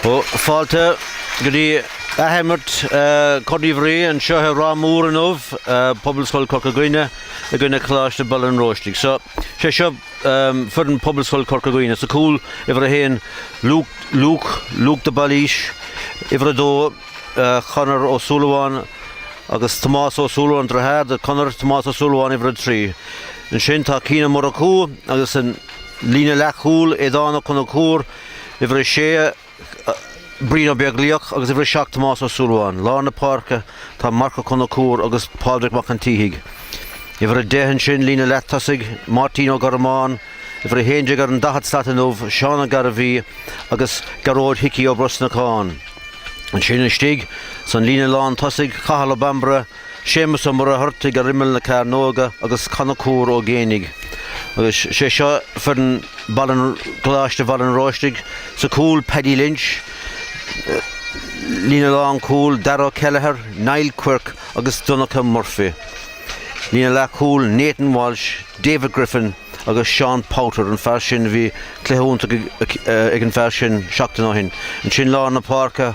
Ó, fáilte go dtí athimirt Corn Uí Mhuirí anseo i Ráth Mór inniu, Pobalscoil Chorca Dhuibhne i gcoinne Coláiste Bhaile an Róistigh. So, sé seo. foireann Phobalscoil Chorca Dhuibhne. Sa chúl, uimhir a haon, Luke, Luke de Bhailís, uimhir a dó, Conor Ó Súilleabháin agus Tomás Ó Súilleabháin, deartháir do Conor, Tomás Ó Súilleabháin, uimhir a trí. Ansin tá Cian Ó Murchú agus an líne leathchúl, Aodán Ó Conchúir, uimhir a sé, Brian Ó Beaglaoich agus uimhir a seacht Tomás Ó Súilleabháin. Lár na páirce, tá Marc Ó Conchúir agus Pádraig Mac an tSíthigh. Uimhir 10 ansin, líne leath-tosaigh, Máirtín Ó Gormáin, uimhir 11 ar an daichead slat inniu, Seán Ó Gairbhí agus Gearóid Hickey Ó Brosnacháin. Ansin istigh san líne lán-tosaigh, Cathal Ó Bambaire, Séamus Ó Muircheartaigh ar imeall na cearnóige agus Conchúr Ó Géibheannaigh agus sé seo foireann Choláiste Bhaile an Róistigh, sa chúl Paddy Lynch, líne lán chúil Daragh Kelleher, Niall Quirke agus Donnacha Murphy, líne leath chúil Nathan Walsh, David Griffin agus Seán Powter, an fear sin a bhí cluiche iontach ag an fear sin seachtain ó shin, ansin lár na páirce,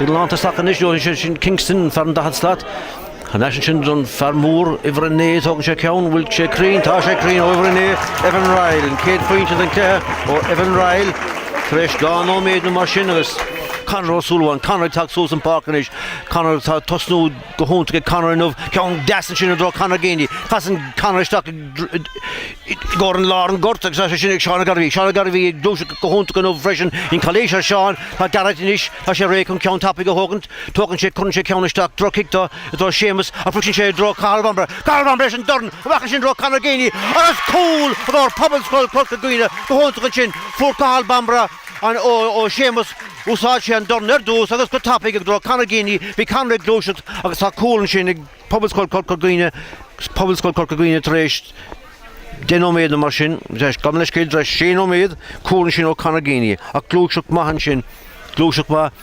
Ag leanta isteach anois ó Shane Kingston, fear an daichead slat. Thar n-ais ansin don fear mór, uimhir a naoi, tógann sé ceann, bhfuil sé cruinn, tá sé cruinn ó uimhir a naoi, Evan Ryle, an chéad phointe den cluiche ó Evan Ryle, tar éis dhá nóiméad nó mar sin agus Conor Ó Súilleabháin, Conor ag teacht suas an pháirc anois, Conor tá tosnú go hiontach ag Conor inniu, ceann deas ansin i dtreo Conor Geaney. Casann Conor isteach i gcomhair an lár an ghoirt agus tá sé sin ag Seán Ó Gairbhí. Seán Ó Gairbhí ag gluaiseacht go hiontach inniu freisin. Sin calaois ar Sheán, tá Gearóid anois, tá sé réidh chun ceann tapaidh a thógaint. Tógann sé, cuireann sé ceann isteach, droch-chic do i dtreo Séamus ach briseann sé i dtreo Cathal Bambaire. Cathal Bambaire leis an dorn, amach ansin i dtreo Conor Geaney agus cúl i gcomhair Pobalscoil Chorca Dhuibhne. Go hiontach ansin, fuair Cathal Bambaire. An ó Séamus, úsáid sé an dorn ar dtús agus go tapaidh i dtreo Conor Geaney, bhí Conor ag gluaiseacht agus tá cúl ansin ag Pobalscoil Chorca Dhuibhne, Pobalscoil Chorca Dhuibhne tar éis deich nóiméad nó mar sin, gabh mo leithscéal, tar éis sé nóiméad, cúl ansin ó Conor Geaney, ach gluaiseacht maith ansin, gluaiseacht mhaith.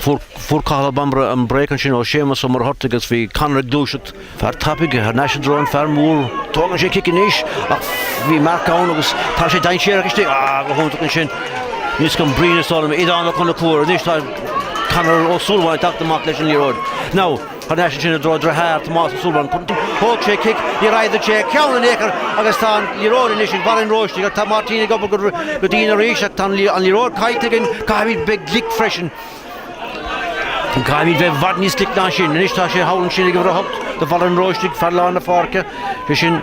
Fuair Cathal Ó Bambaire an break ansin ó Séamus Ó Muircheartaigh agus bhí Conor ag gluaiseacht. Fear tapaidh thar n-ais i dtreo an fear mór. Tógann sé cic anois ach bhí Marc ann agus tá sé dainséarach istigh. Ah, go hiontach ansin. Anois chun Brian, is dóigh liom, Aodán Ó Conchúir. Anois tá Conor Ó Súilleabháin ag teacht amach leis an liathróid. Now. Thar n-ais ansin i dtreo deartháir Tomás Ó Súilleabháin. Thóg sé cic, níor ardaigh sé a cheann in aon chor agus tá an liathróid anois ag Baile an Róistigh ach tá Máirtín ag obair go dian arís ach tá an liathróid caillte againn. Caithfimid bheith glic freisin. Caithfimid bheith i bhfad níos glic ná sin. Anois tá sé thall ansin ag uimhir a hocht do Bhaile an Róistigh, fear lár na páirce, sé sin,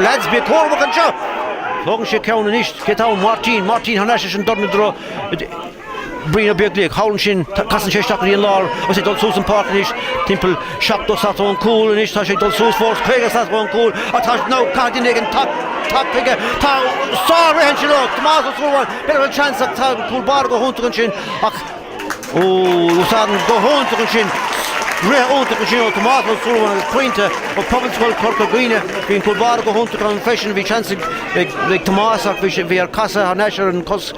Lads, bí cúramach anseo! Tógann sé ceann anois. Cé tá ann? Máirtín! Máirtín, thar n-ais leis an dorn i dtreo Brian Ó Beaglaoich. Thall ansin. Casann sé isteach go dtí an lár agus é ag dul suas an pháirc anois. Timpeall seachtó slat ón gcúl anois. Tá sé ag dul suas fós. Caoga slat ón gcúl. Ach tá, nó caithfidh duine éigin teacht chuige. Tá sár-rith ansin ó Thomás Ó Súilleabháin. B'fhéidir go bhfuil seans ach tá an cúl báire go hiontach ansin ach. Úsáideann go hiontach ansin, rith iontach ansin ó Thomás Ó Súilleabháin agus Pointe ó Phobalscoil Chorca Dhuibhne. Bhí an cúl báire go hiontach ann freisin. Bhí seans ag ag Tomás ach bhí sé bhí air casadh thar n-ais ar an cos.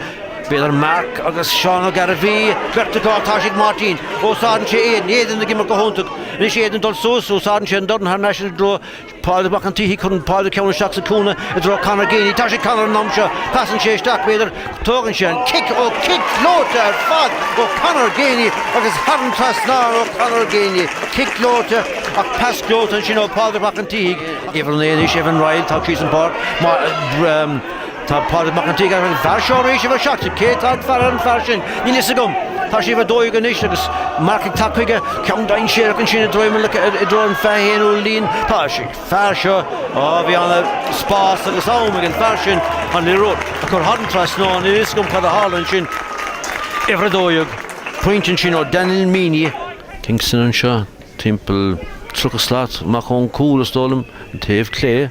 B'fhéidir Mark agus Seán Ó Gairbhí. Beirt acu ach tá sé ag Máirtín. Úsáideann sé Aidan. Aidan ag imirt go hiontach. Anois Aidan ag dul suas. Úsáideann sé an dorn thar n-ais i dtreo Pádraig Mac an tSíthigh, cuireann Pádraig ceann isteach sa chúinne i dtreo Conor Geaney. Tá sé ag Conor an am seo, casann sé isteach, b'fhéidir, tógann sé an cic, ó cic gleoite ar fad ó Conor Geaney agus thar an trasnán ó Conor Geaney. Cic gleoite, ach pas gleoite ansin ó Phádraig Mac an tSíthigh. Uimhir a naoi anois, Evan Ryle, tagtha síos an pháirc mar. Tá Pádraig Mac an tSíthigh ar an bhfear seo arís uimhir a seacht. Cé atá ag faire ar an fear sin? Níl fhios agam. Tá sé ag uimhir a dó dhéag anois agus Mark ag teacht chuige, ceann dainséarach ansin i dtreo, i dtreo an fiche haonú líne. Tá sé ag an fear seo. Á, bhí ana spás agus am ag an fear sin an liathróid a chur thar an trasnán. Níl fhios agam cad a tharla ansin. Uimhir a dó dhéag. Pointe ansin ó Daniel Meaney. Kingston anseo, timpeall tríocha slat amach ón gcúl, is dóigh liom, an taobh clé.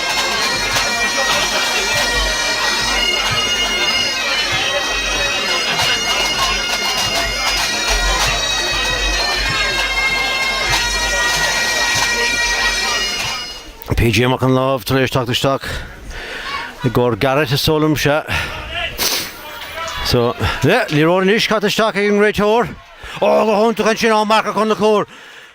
PJ Mac an Láimh tar éis teacht isteach i gcomhair Garrett is dóigh liom-se. So, yeah, liathróid anois caite isteach ag an réiteoir. Ó, go hiontach ansin ó Mark Ó Conchúir.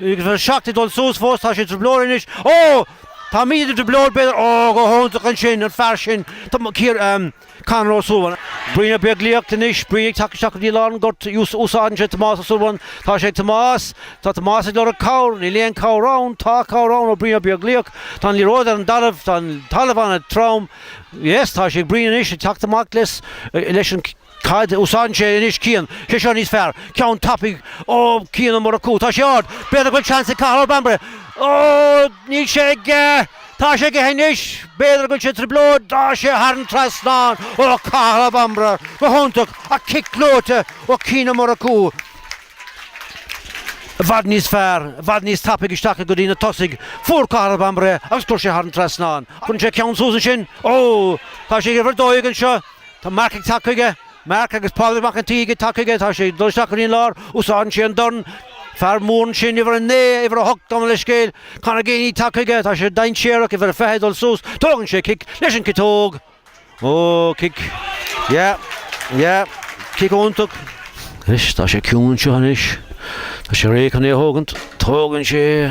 Agus an seacht ag dul suas fós, tá sé i dtrioblóid anois. Ó! Táimid i dtrioblóid, b'fhéidir. Ó, go hiontach ansin, an fear sin, Ciar, em, Conor Ó Súilleabháin. Brian Ó Beaglaoich anois, Brian ag teacht isteach go dtí lár an ghoirt, ús, úsáideann sé Tomás Ó Súilleabháin. Tá sé ag Tomás. Tá Tomás ag lorg cabhair. Níl aon chabhair ann. Tá cabhair ann ó Brian Ó Beaglaoich. Tá an liathróid ar an dtalamh. Tá an talamh an-trom. Yes, tá sé ag Brian anois, ag teacht amach leis, eh, leis an, Cad a úsáideann sé anois? Cian, Sé seo níos fearr. Ceann tapaidh, Ó, Cian Ó Murchú, tá sé ard! B'fhéidir go bhfuil seans ag Cathal Ó Bambaire. Ó, níl sé aige! Tá sé aige anois! B'fhéidir go bhfuil sé i dtrioblóid, tá sé thar an trasnán! Ó, Cathal Ó Bambaire! Go hiontach! Ach cic gleoite ó Chian Ó Murchú. I bhfad níos fearr, i bhfad níos tapaidh isteach go dtí na tosaigh. Fuair Cathal Ó Bambaire é agus chuir sé thar an trasnán é. Cuireann sé ceann suas ansin. Ó, tá sé ag uimhir a dó dhéag anseo. Tá Marc ag teacht chuige. Marc, Agus Pádraig Mac an tSíthigh ag teacht chuige, tá sé ag dul isteach go dtí an lár, úsáideann sé an dorn, fear mór ansin, uimhir a naoi, uimhir a hocht, gabh mo leithscéal. Conor Geaney ag teacht chuige, tá sé dainséarach, uimhir a fiche ag dul suas, tógann sé cic, leis an ciotóg! Ó, cic. Yeah. Yeah. Cic iontach. Anois, tá sé ciúin anseo anois. Tá sé réidh chun é a thógaint. Tógann sé.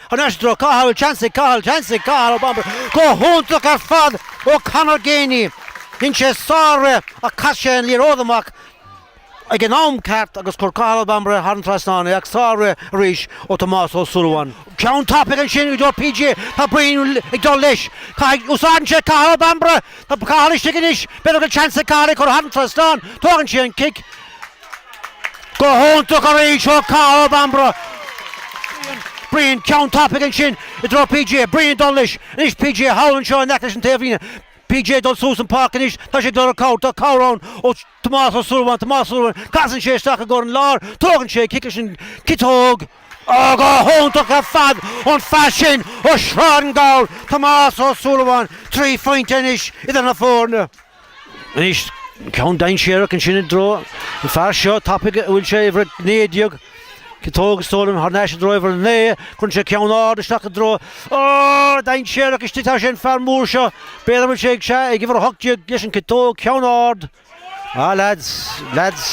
Anois i dtreo Cathal, seans ag Cathal, seans ag Cathal Ó Bambaire, go hiontach ar fad ó Conor Geaney. Dhein sé sár-rith ach chaith sé an liathróid amach ag an am ceart agus chuir Cathal Ó Bambaire thar an trasnán é ach sár-rith arís ó Thomás Ó Súilleabháin. Ceann tapaidh ansin i dtreo PJ, tá Brian ag dul leis, caithfidh, úsáideann sé Cathal Ó Bambaire, tá Cathal istigh anois, b'fhéidir go bhfuil seans ag Cathal é a chur thar an trasnán, tógann sé an cic, Go hiontach arís ó Cathal Ó Bambaire. Brian, ceann tapaidh ansin i dtreo PJ. Brian, dul leis. Anois PJ thall anseo in aice leis an taobhlíne. PJ dul suas an páirc anois, tá sé ag lorg cabhair, tá cabhair ann ó Tomás Ó Súilleabháin, Tomás Súilleabháin, casann sé isteach i gcóir an láir, tógann sé cic leis an ciotóg, Oh, go hiontach ar fad ón fear sin ó Shráid na nGabhar, Tomás Ó Súilleabháin, trí phointe anois idir na foirne. Anois, ceann dainséarach ansin i dtreo an fear seo tapaidh a bhfuil sé uimhir a 19, ciotóg is dóigh liom, thar n-ais i dtreo uimhir a naoi, cuireann sé ceann ard isteach i dtreo, Ó! dainséarach istigh tá sé an fear mór seo, b'fhéidir go bhfuil sé ag, sea, ag uimhir a hocht déag leis an ciotóg, ceann ard, ah leaids, leaids,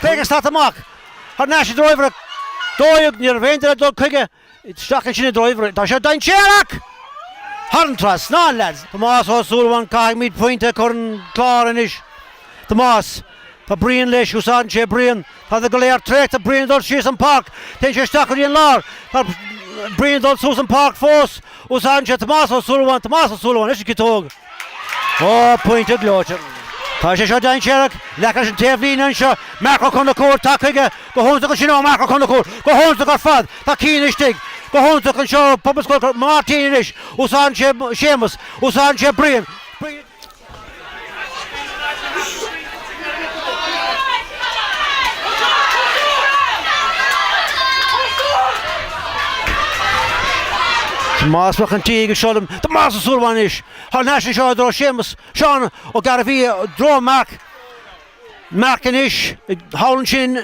féach an slat amach, thar n-ais i dtreo uimhir a dó dhéag, uimhir a haon déag dul chuige. Isteach ansin i dtreo uimhir. Tá sé seo dainséarach! Thar an trasnán, lads! Tomás Ó Súilleabháin Caithfimid pointe a chur an clár anois. Tomás, Tá Brian leis, úsáideann sé Brian. Táid go léir traochta, Brian ag dul síos an páirc. Téann sé isteach go dtí an lár. Tá Brian ag dul suas an páirc fós. Úsáideann sé Tomás Ó Súilleabháin. Tomás Ó Súilleabháin, leis an ciotóg. Ó, pointe gleoite. Tá sé seo dainséarach. In aice leis an taobhlíne anseo. Marc Ó Conchúir, teacht chuige. Go hiontach ansin ó Marc Ó Conchúir. Go hiontach ar fad. Tá Cian istigh. Go hiontach anseo ó Pobalscoil. Máirtín anois. Úsáideann sé Séamus. Úsáideann sé Brian. Brian. Tomás Mac an tSíthigh ag seoladh Tomás Ó Súilleabháin anois thar n-ais anseo i dtreo Séamus Seán Ó Gairbhí i dtreo Marc Marc anois thall ansin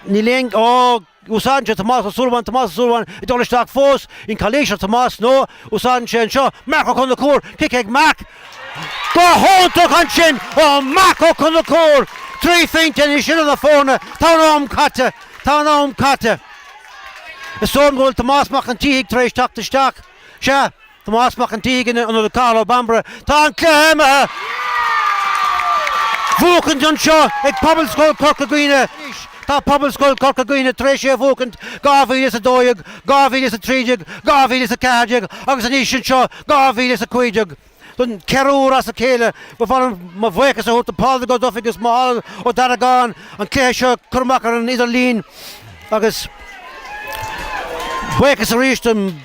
níl aon, ó, Úsáideann sé Tomás Ó Súilleabháin, Tomás Ó Súilleabháin ag dul isteach fós, an calaois ar Tomás, nó úsáideann sé anseo Marc Ó Conchúir, cic ag Marc, go hiontach ansin ó Mharc Ó Conchúir! Trí phointe anois idir na foirne, tá an am caite, tá an am caite. Is dóigh liom go bhfuil Tomás Mac an tSíthigh tar éis teacht isteach. Sea. Tomás Mac an tSíthigh in ionad Cathal Ó Bambaire. Tá an cluiche imithe bhuachaint anseo ag Pobalscoil Chorca Dhuibhne. Tá Pobalscoil Chorca Dhuibhne tar éis é a bhuachaint 2012, 2013, 2014 agus anois anseo 2015. Don ceathrú uair as a chéile, ba mhaith liom mo bhuíochas a thabhairt do Pádraig Ó Dufaigh agus Micheál Ó Dargáin an cluiche seo a chur amach ar an idirlíon agus buíochas arís don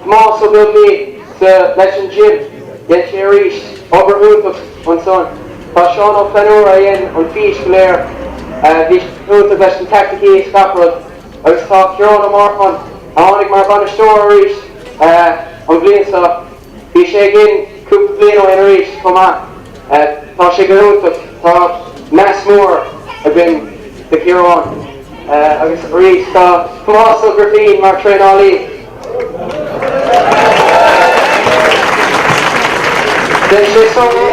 Tomás Ó Beaglaoich sa leis an gym, dhein sé arís obair iontach ansan. Tá Seán Ó Flannúra a dhein an fís go léir, bhí sé iontach leis na tactics is gach rud, agus tá Ciarán Ó Murcháin, a tháinig mar bhainisteoir arís an bhliain seo, bhí sé againn cúpla bliain ó shin arís chomh maith. Tá sé go hiontach. Tá meas mór againn do Chiarán agus arís do Thomás Ó Grifín mar thraenálaí. Dhein sé san.